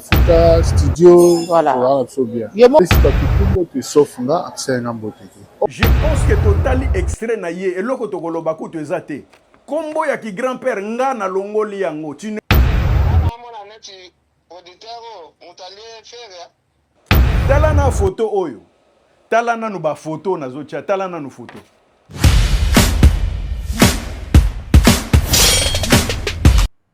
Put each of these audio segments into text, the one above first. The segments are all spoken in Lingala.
Futa studio voilà. Voilà, so bien. Yemo. Sika kitumbo te sauf nga akisai na mbote te. Je pense que totali extrait na ye eloko tokoloba kutu eza te. Kombo ya ki grand père nga na longoli yango. Tu ne Tala na photo oyo. Tala nanu ba photo nazo tia, tala nanu photo.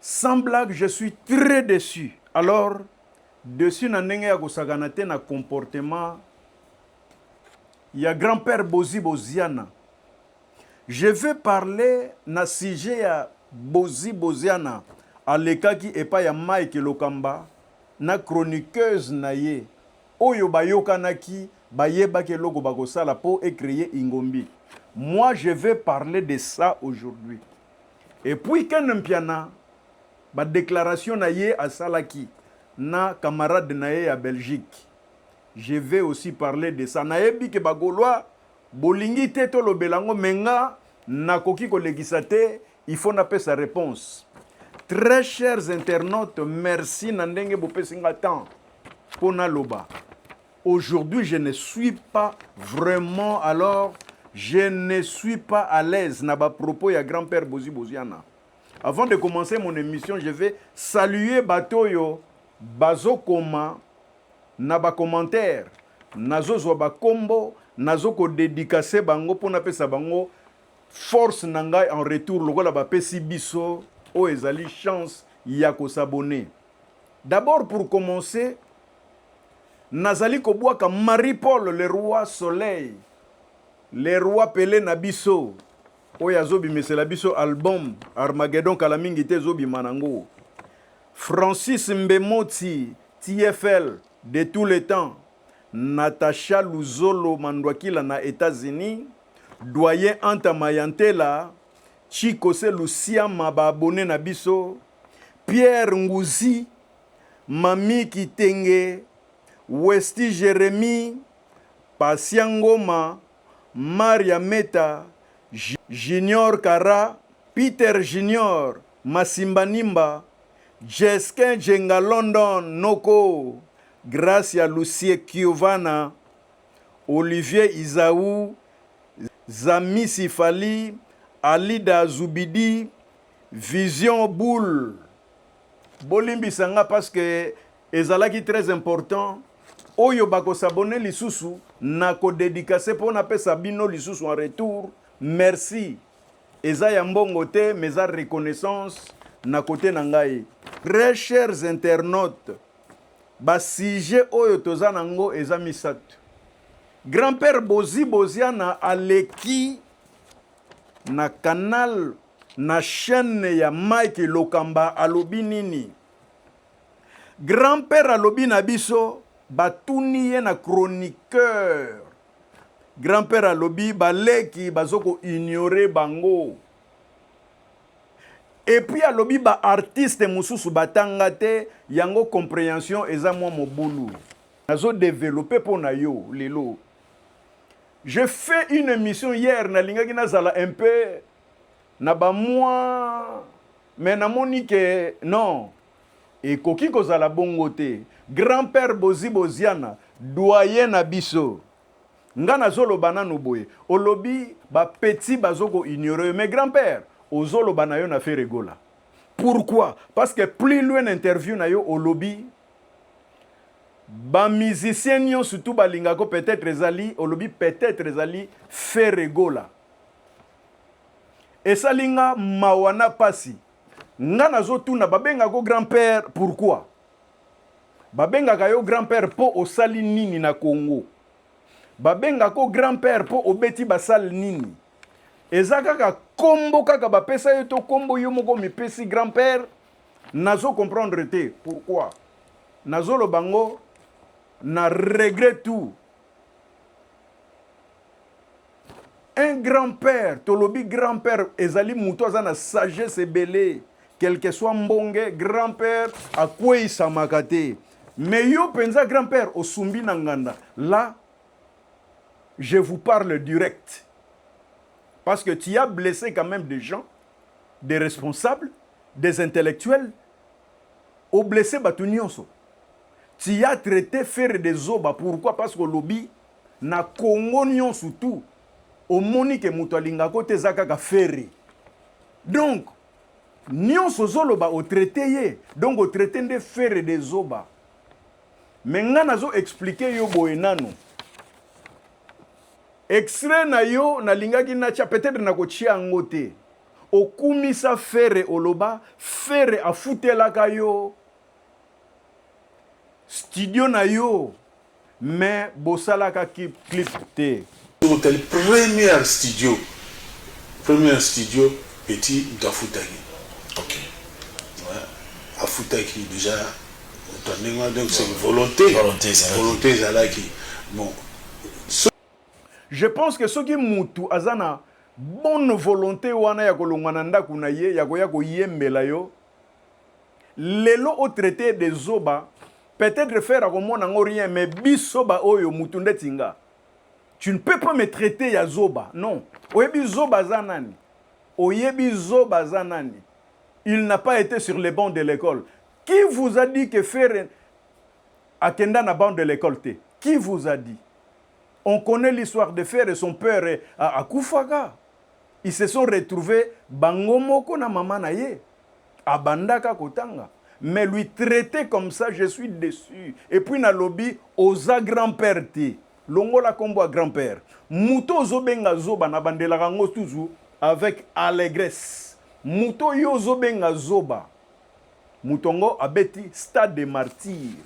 Sans blague je suis très deçu alors deçu na ndenge ya kosakana te na comportement ya grand père Bozi Boziana je vais parler na sujet ya Bozi Boziana alekaki epai ya Mike Lokamba na chroniqueuse na ye oyo bayokanaki bayebaki eloko bakosala mpo ecreye ingombi moi je vais parler de ça aujourd'hui Et puis Ken Mpiana ba declarations na ye asalaki na camarade na ye ya Belgique je vais aussi parler de ça nayebi que ba golois bolingi te tolobela yango mais nga nakoki kolekisa te il faut napesa reponse très chers internautes merci na ndenge bopesi nga temps mpo naloba Aujourd'hui je ne suis pas vraiment alors je ne suis pas à l'aise na ba propos ya grand père Bozi Boziana. Avant de commencer mon émission, je vais saluer bato oyo bazokoma na ba commentaires nazozwa bakombo nazo kodedikase bango mpo napesa bango force na ngai en retour lokola bapesi biso oyo ezali chance ya kosabone d'abord pour commencer Nazali kobwaka Marie Paul le roi soleil le roi pele na biso oyo azobimisela biso album Armageddon kala mingi te ezobima nango Francis Mbemoti TFL de tous les temps Natacha Luzolo Mandwakila na Etats-Unis Doyen Anta Mayantela Chikose Lusiama ba abonne na biso Pierre Nguzi Mamie Kitenge, Westy Jeremie, Patient Ngoma, Maria Meta, Junior Kara, Peter Junior, Masimba Nimba, Jesquin Djenga London Noko, Gracia Lucie Kiovana, Olivier Izaou, Zamisi Fally, Alida Zubidi, Vision Boule, Bolimbisa nga parce que ezalaki très important oyo bako s'abonner lisusu na ko dedicacer po na pesa bino lisusu en retour merci eza ya mbongo te mais eza reconnaissance na kote na ngai très chers internautes ba sujet oyo toza na ngo eza misato grand-père bozi boziana aleki na canal Na chaine ya Mike Lokamba alobi nini? Grand père alobi na biso batuni ye na chroniqueur. Grand père alobi baleki bazoko ignorer bango. Et puis alobi ba artistes mususu batanga te yango comprehension eza mwa mobulu. Nazo developper po na yo lelo. Je fais une émission hier nalingaki nazala un peu na ba mois mais na moni que non ekoki kozala bongo te grand père bozi boziana doyen na biso nga nazoloba nanu boye olobi ba petit bazoko ignore mais grand père ozoloba na yo na fere gola pourquoi parce que plus loin na interview na yo olobi ba musicien nionso tout balingako peut-être ezali olobi peut-être ezali fere gola esali nga mawa na pasi nga nazotuna babenga ko grand père pourquoi babengaka yo grand père mpo osali nini na congo babenga ko grand père mpo obeti basale nini eza kaka kombo kaka bapesa yo to kombo yo moko mipesi grand père nazo comprendre te pourquoi nazoloba ngo na regret tout Un grand père, tolobi grand père ezali mutu aza na sagesse ebele quelque soit mbonge grand père akweisamaka te mais yo penza grand père osumbi na nganda la je vous parle direct. Parce que tu as blessé quand même des gens, des responsables, des intellectuels, au blessé Batunionso. Tu as traité faire des oba. Pourquoi Parce que lobby, Na congo nionso tout omoni ke mutu alingaka yo te eza kaka ferre donc nionso ozoloba o traite ye donc o traite nde ferre de zoba me nga nazo explike yo boye nanu extrait na yo nalingaki natia peut-être nakotia yango te okumisa ferre oloba ferre afutelaka yo studio na yo Mais bosalaka clip te. Totali première studio première studio petit moto afutaki okay. ouais. afutaki déjà moto ndenge wana donc c'est volonté volonté ezalaki bon so... je pense que soki mutu aza na bonne volonté wana ya kolongwa na ndako na ye ya koya koyembela yo Lelo o traite ye de zoba peut etre ferre akomona yango rien mais biso ba oyo mutu ndeti nga tu ne peux pas me traiter ya zoba non oyebi zoba aza nani oyebi zoba aza nani il n'a pas ete sur les bancs de l'ecole qui vous a dit que ferre akenda na banc de l'ecole te qui vous a dit on connait l'histoire de ferre et son père akufaka ils se sont retrouvés bango moko na mama na ye Abandaka kotanga mais lui traiter comme ça je suis deçu et puis nalobi oza grand père te longola kombo ya grand père moto ozo benga zoba na bandelaka ngo toujours avec allégresse moto yo ozo benga zoba moto ngo abeti stade de martyr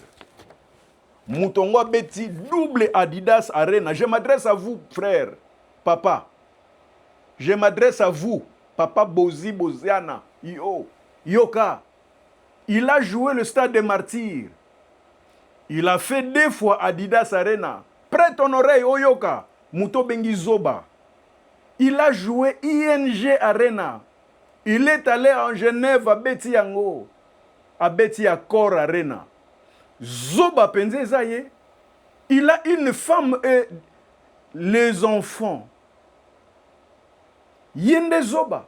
moto ngo abeti double adidas arena je m'adresse à vous frère papa Je m'adresse à vous papa Bozi Boziana yo yoka il a joue le stade de martyrs il a fait deux fois Adidas Arena prête ton oreille oyoka moto obengi zoba il a joue ING Arena il est allé en Genève abeti yango abeti Accor Arena zoba penza eza ye il a une femme euh, Les enfants ye nde zoba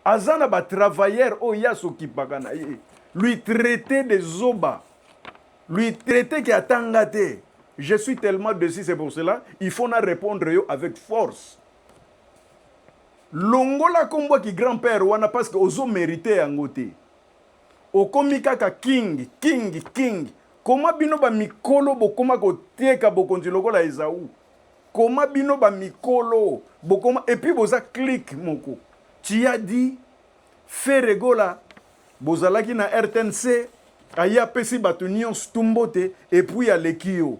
aza na ba travailleurs oyo ye asokipaka na ye lui traite de zoba lui traite ke atanga te je suis tellement dessus c'est pour cela il faut na répondre yo avec force longola kombo ki grand père wana parce que ozo merite yango te Okomi kaka king king king comment bino ba mikolo bokoma koteka bokonzi lokola Esawu comment bino ba mikolo bokoma et puis boza clic moko tu as dit Ferre Gola bozalaki na rtnc aye apesi batu nionso tout mbote et puis aleki yo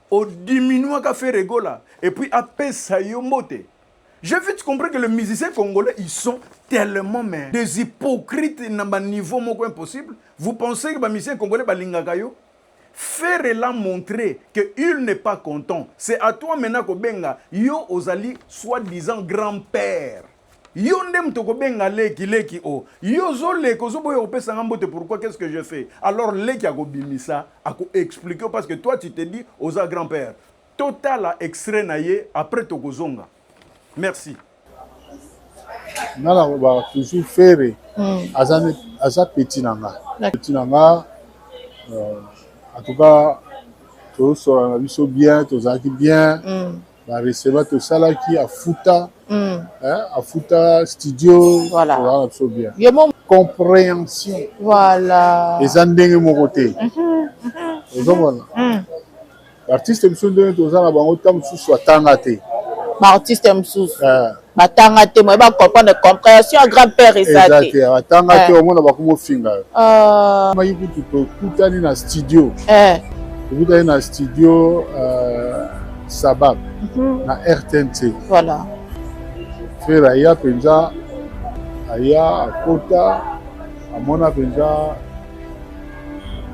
o diminuaka Ferre Gola et puis apesa yo mbote J'ai vite compris que les musiciens congolais, ils sont tellement mais des hypocrites na ba niveau moko impossible. Vous pensez que ba musiciens congolais balingaka yo? Ferre l'a montré que il n'est pas content. C'est à toi maintenant ko benga yo ozali soi-disant grand-père. Yo nde moto okobenga leki leki o oh. yo ozoleka ozoboya kopesa nga mbote pourquoi qu'est-ce que je fais alors leki akobimisa akoexplike parce que toi tu te dis oza grand père totala extrait na ye après tokozonga merci nga nalobaka toujours ferre hmm. aza peti na nga peti na nga euh, en tout cas tozosola na biso bien tozalaki bien mm. ba recevant tosalaki afuta mm. hein, afuta studio voilà. towana biso bien Yo, mon... compréhension voilà. eza ndenge moko te mm -hmm. ozomona mm -hmm. baartiste mosusu ndenge toza na bango ntango mosusu atanga te baartiste mosusu eh. batanga te moye bacomprendre comprehension ya grand père eza te atanga te eh. omona bakoma ofinga yo ah. maki kutu tokutani na studio eh. tokutani na studio euh, sabab mhm. na rtnc voilà frere aya mpenza aya akota amona mpenza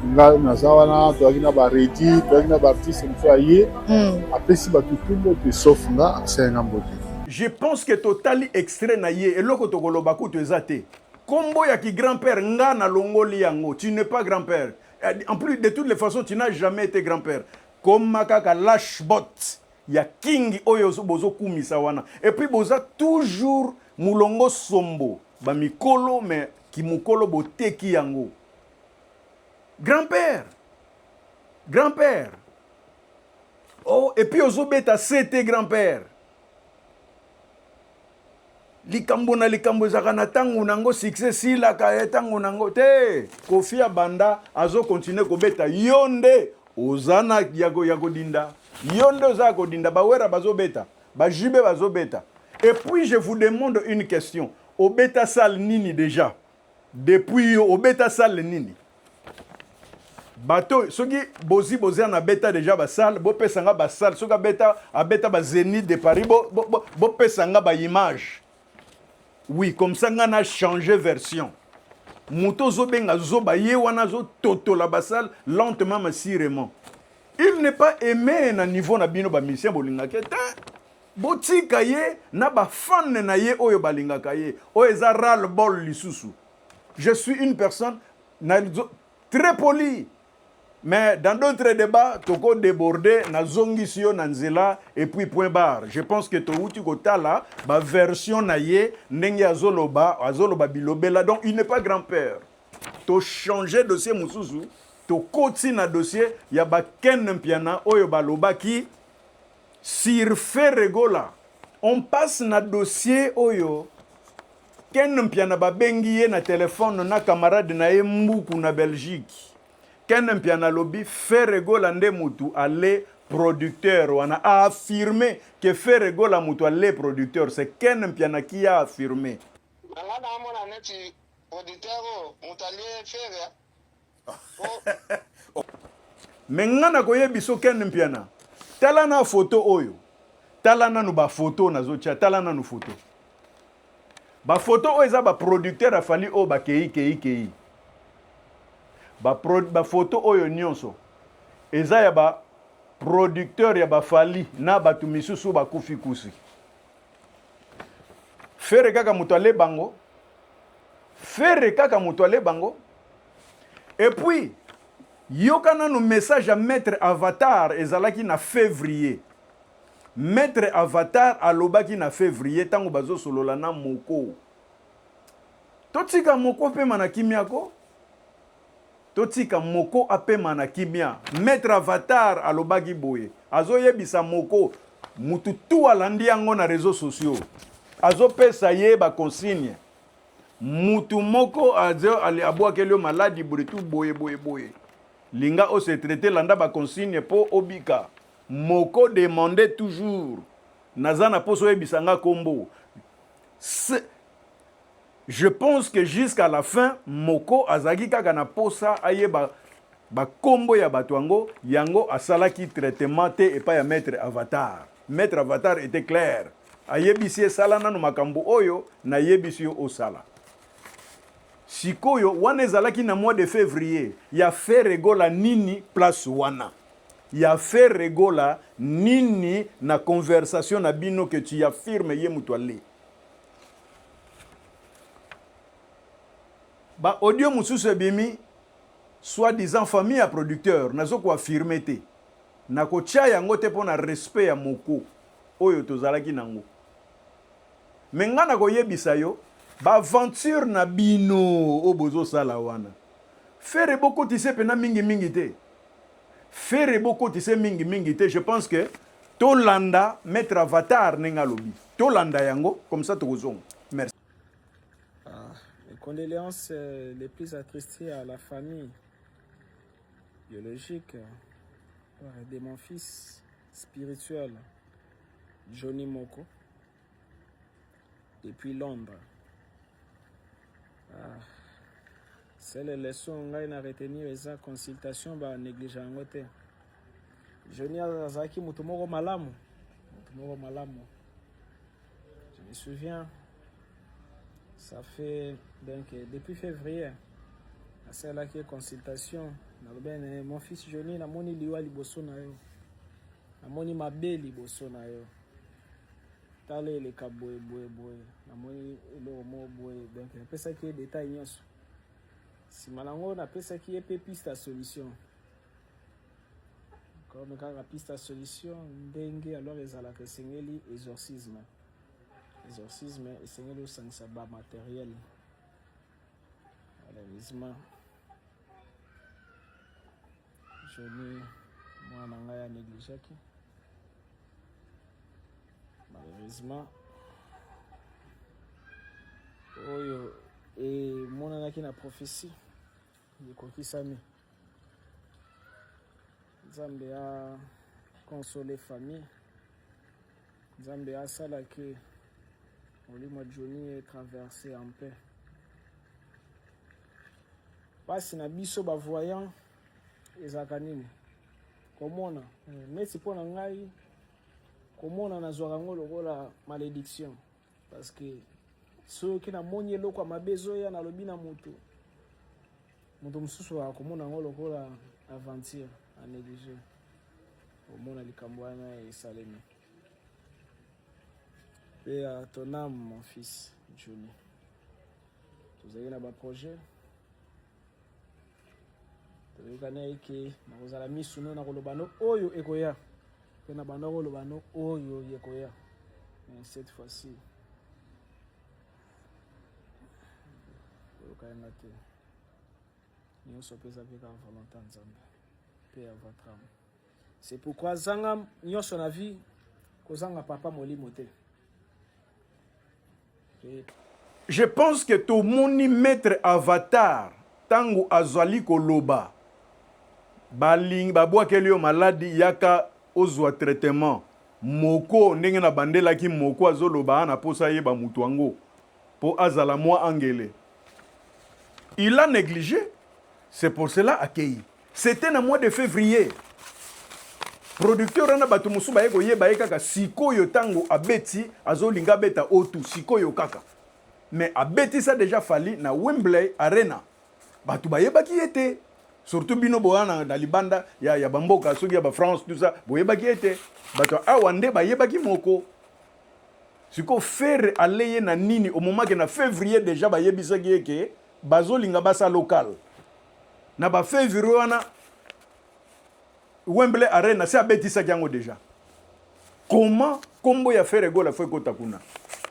ngai naza wana toyaki na baredi toyaki na baartiste mosusu aye hmm. apesi bato tumbo mpe sauf nga asali nga mbote je pense que totali extrait na ye eloko tokoloba kutu eza te kombo ya ki grand père nga nalongoli yango tu n'es pas grand père eh, en plus de toutes les façons tu n'as jamais été grand père koma kaka lashbot ya kingi oyo bozokumisa wana epuis boza toujours mulongo sombo Ba mikolo mais kimukolo boteki yango. Grand père. Grand père. Oh et puis ozo beta CT grand père. likambo na likambo ezalaka na ntango na yango succès esilaka ye ntango na yango te kofi abanda azokontinue kobeta yo nde oza na ya kodinda yo nde oza ya kodinda bawera bazobeta Ba JB bazo beta. Et puis je vous demande une question. Obeta salle nini deja? Depuis yo obeta salle nini? bato soki bozi bozi na beta deja basale bopesa nga basale soki abeta abeta ba zenith de paris bopesa bo, bo nga baimage oui comme ça nga na change version moto ozobenga zoba ye wana azototola basale lentement masirement Il n'est pas aimé na niveau na bino ba musiciens bolingaka te. Botika ye na ba fan na ye oyo balingaka ye. Oyo eza ral bol lisusu. Je suis une personne na très poli. Mais dans d'autres débats, toko débordé na zongisi yo na nzela et puis point barre. Je pense que towuti kotala ba version na ye ndenge azoloba, azoloba bilobela. Donc il n'est pas grand-père. To changer dossier mususu tokoti na dossier ya ba Ken Mpiana oyo balobaki sur Ferre Gola. On passe na dossier oyo Ken Mpiana babengi ye na telefone na camarade na ye Mbuku na Belgique. Ken Mpiana alobi Ferre Gola nde mutu ale producteur wana a affirme que Ferre Gola mutu ale producteur. C'est Ken Mpiana qui a affirme. Nanga naamona neti producteur oyo oh, moto alie fere oh. me nga nakoyebiso ken mpiana tala na foto oyo tala nanu bafoto nazotya tala nanu foto bafoto oyo eza baproducteur afali oyo bakei kei kei bafoto ba oyo nyonso eza ya baproducteur ya bafali na bato misusu bakufi kusi Ferre kaka moto ale bango. Ferre kaka moto ale bango. Et puis yoka nanu message ya maître Avatar ezalaki na février. Maître Avatar alobaki na février tango bazo solola na Moko. Totika Moko pema na kimia ko. Totika moko apema na kimia. Maitre avatar alobaki boye azo yebisa moko mutu tout alandi yango na reseaux sociaux azo pesa ye ba consigne mutu moko azo abwakeli yo maladi boye tout boye boye boye linga o se traiter landa ba consigne po obika moko demander toujours naza na poso oyebisa nga kombo Je pense que jusqu'à la fin Moko azalaki kaka na posa ayeba ba kombo ya bato yango, yango asalaki traitement te epai ya Maitre Avatar. Maitre Avatar etait clair, ayebisi ye sala nanu makambo oyo nayebisi yo osala. Sikoyo wana ezalaki na mois de fevrier, ya Ferre Gola nini place wana? Ya Ferre Gola nini na conversation na bino que tu affirmes ye mutu ale? Ba audio mosusu ebimi soit disant famille ya producteur nazo ko affirmer te nako tia yango te mpo na respect ya moko oyo tozalaki nango mais nga nako yebisa yo ba aventure na bino oyo bozo sala wana ferre bokotise pena mingi mingi te Ferre bo kotise mingi mingi te je pense que to landa maître avatar ndenge alobi to landa yango comme ça tokozonga merci ah, mes condoléances euh, les plus attristées à la famille biologique euh, de mon fils spirituel Johnny Moko depuis Londres. Ah. Sele leçon ngai na retenir eza consultation ba néglige yango te. Johnny azalaki moto moko malamu, moto moko malamu. Je me souviens, ça fait donc depuis février asalaki consultation nalobi na mon fils Johnny namoni liwa liboso na yo, namoni mabe liboso na yo. tala eleka boye boye boye namoni eloko moko boye donc napesaki ye detail nyonso nsima na yango napesaki ye mpe piste ya solution comme kaka piste ya solution ndenge alors ezalaka esengeli exorcisme exorcisme esengeli osangisa bamateriel malheureusement Jolie mwana na ngai anegligeaki malheureusement oyo emonanaki na prophesie ekokisami nzambe ya console famille Nzambe asala que molimo ya Johnny e traverse en paix. Pasi na biso ba voyant ezalaka nini? Komona neti mpo na ngai komona nazwaka yango lokola malediction. parce que soki namoni eloko ya mabe ezoya nalobi na moto moto mosusu akomona yango lokola aventure a néglige omona likambo wana esalemi mpe ya ton ame mon fils juni tozali na baprojet toyokani ayeke nakozala misu no nakoloba no oyo ekoya mpe na banda koloba no oyo ekoya cette fois-ci toyokani nga te nyonso mpe eza mpe kaka volonté ya nzambe mpe ya vatrame c'est pourquoi zanga nyonso na vie kozanga papa molimo te Je pense que tomoni maitre avatar tangu azali koloba baling babwakeli yo maladi yaka ozwa traitement moko ndenge na bandelaki moko azoloba ana posa ayeba mutu yango po azala mwa angele il a neglige c'est pour cela akeyi C'etait na mois de fevrier. Producteur wana bato mosusu baye koyeba ye kaka sikoyo ntango abeti azolinga abeta otu sikoyo kaka mais abetisa deja fali na wembley arena bato bayebaki ye te surtout bino boya na, na libanda ya, ya bamboka soki ya bafrance tout ça boyebaki ye te bato awa nde bayebaki moko sikoyo ferre aleye na nini omomake na fevrier deja bayebisaki ye ke bazolinga basa local Na ba fevrier wana Wembley Arena si abetisaki yango deja. Comment kombo ya Ferre Gola faut ekota kuna?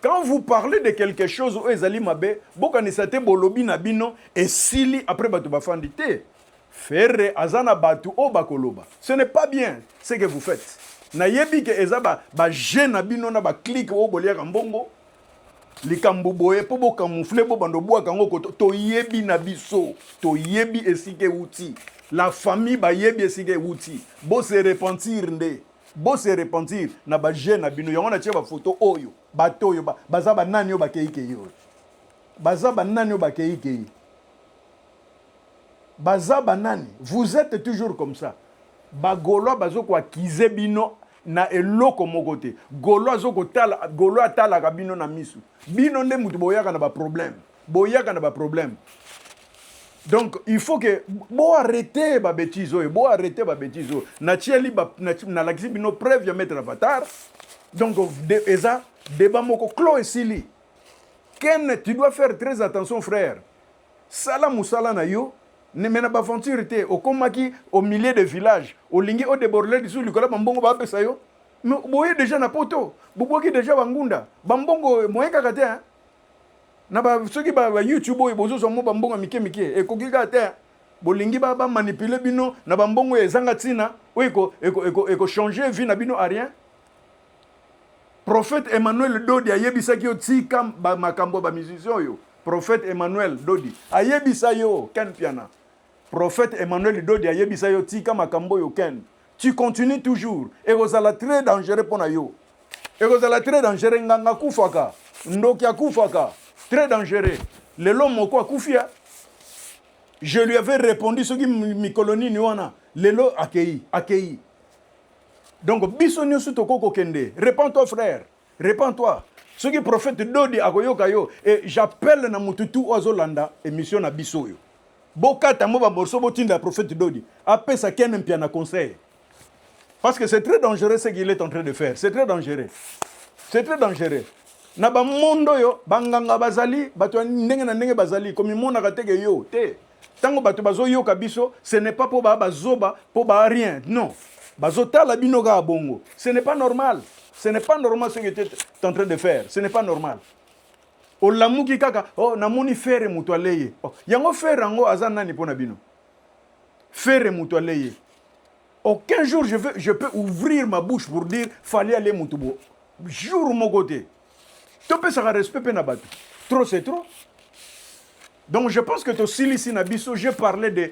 Quand vous parlez de quelque chose oyo ezali mabe, bokanisa te bolobi na bino esili après bato bafandi te. Ferre aza na bato oyo bakoloba. Ce n'est pas bien ce que vous faites. Nayebi ke eza ba, ba jeu na bino na ba clique oyo boliaka mbongo likambo boye mpo bokamufle bobanda obwaka yango koto toyebi na biso toyebi esika ewuti la famille bayebi esika ewuti bose repentir nde bose repentir na baje na bino yango natie bafoto oyo bato oyo baza banani oyo bakeikei oyo baza banani oyo bakeikei baza banani vous êtes toujours comme ça bagolois bazokoakize bino na eloko moko te golo azo kotala golo atalaka bino na misu bino nde mutu boyaka na baproblème boyaka na baproblème donc il faut que bo arrete babétise oyo bo arrete babétise oyo natieli nalakisi bino preuve ya maître avatar donc de, eza débat moko clos esili ken tu dois faire très attention frère Sala musala na yo ne mais na ba aventure te okomaki au milieu de village olingi o deborder lisusu likolo ya ba mbongo ba pesa yo mais boye deja na poto bobuaki deja ba ngunda ba mbongo moyen kaka te hein? na ba soki ba, ba youtube oyo bozozwa mo ba mbongo ya mike mike ekoki kaka te hein? bolingi ba ba manipuler bino na ba mbongo ezanga tina oyo eko eko eko eko changer vie na bino à rien Prophète Emmanuel Dodi ayebisaki yo tika ba makambo ba musiciens oyo. Prophète Emmanuel Dodi ayebisa yo Ken Piana. Prophète Emmanuel Dodi ayebisa yo tika makambo oyo Ken. Tu continues toujours et ekozala très dangereux mpo na yo. Ekozala très dangereux nganga kufaka. Ndoki akufaka. Très dangereux. Lelo moko akufia. Je lui avais répondu soki mikolo nini wana. Lelo akei, akei. donc biso nioso tokoki kokende repend toi frère repend toi soki prophète dodi akoyoka yo et j'appelle na mutu tu oyo azolanda émission na biso oyo bokata mo bamorceau botinda prophète dodi apesa kene mpia na conseil parce que c'est très dangereux ce qu'il est en train de faire c'est très dangereux c'est très dangereux na bamondo oyo banganga bazali bato ya ndenge na ndenge bazali komimonaka teke yo te Tango bato bazo yoka biso, ce n'est pas po ba ba zoba, po ba rien. Non. Bazo tala bino kaka bongo. Ce n'est pas normal. Ce n'est pas normal ce que tu es en train de faire. Ce n'est pas normal. olamuki kaka oh, namoni fere moto ale ye oh, yango fere yango aza nani mpo na bino fere moto ale ye aucun jour je, veux, je peux ouvrir ma bouche pour dire fali ale moto bo jour moko te topesaka respect mpe na bato trop c'est trop Donc je pense que tosilisi na biso, je parlais de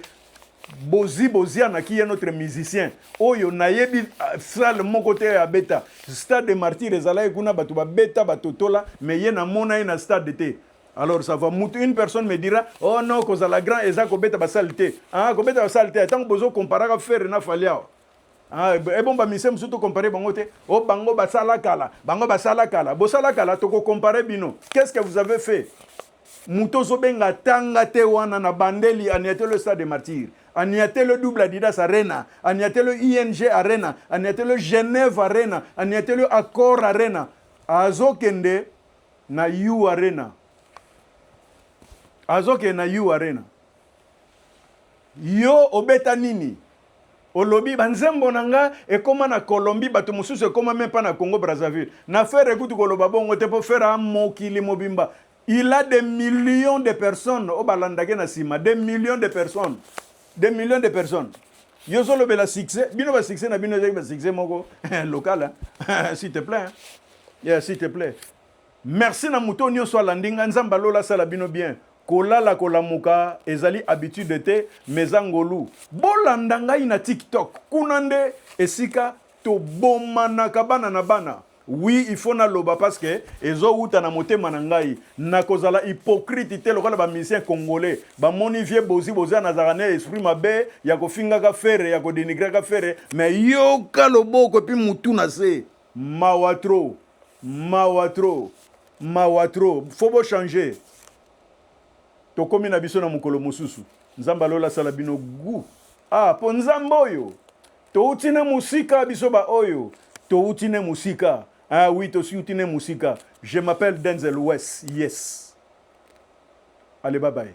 Bozi Boziana qui est notre musicien. Oyo nayebi euh, salle moko te ya beta. Stade de Martyrs ezalaki kuna bato ba beta batotola mais ye namona ye na stade te. Alors ça va mutu une personne me dira oh non kozala grand eza kobeta basale te. Ah kobeta basale te. Tango bozo comparaka Ferre na Fally awa. Ah, eh, bon bamisie mosusu tokompare bango te o oh, bango basala kala bango basala kala bosala kala tokokompare bino qu'est ce que vous avez fait moto ozobenga tanga te wana na bandeli aniatelo stade de martyr aniatelo double adidas arena aniatelo ing arena aniatelo genève arena aniatelo accord arena azokende na u arena azokende na u arena Yo obeta nini? Olobi ba nzembo na nga ekoma na Colombie, bato mosusu ekoma meme pas na Congo Brazzaville. Na Ferre kutu koloba bongo te po Ferre a mokili mobimba. Il a des millions de personnes oyo balandake na sima, des millions de personnes. Des millions de personnes. Yo zolobela succès, bino ba succès na bino ezaki ba succès moko local, s'il te plaît. Yeah, s'il te plaît. Merci na moto nioso alandi nga nzambe ya lola asala bino bien kolala kolamuka ezali habitude te mais eza ngolu bolanda ngai na tiktok kuna nde esika tobomanaka bana na bana oui il faut naloba parce que ezowuta na motema na ngai nakozala hypocrite te lokola ba musicien congolais bamoni vie bozi boza nazalaka na esprit mabe ya kofingaka fere ya kodenigraka fere mais yoka loboko epi mutu na se Mawa trop mawa trop mawa trop faut bo changer tokomi na biso na mokolo mosusu nzambe alola asala bino gu ah mpo nzambe oyo touti ne mosika biso baoyo touti ne mosika ah oui tosiuti ne mosika je m'appelle denzel wes yes ale babaye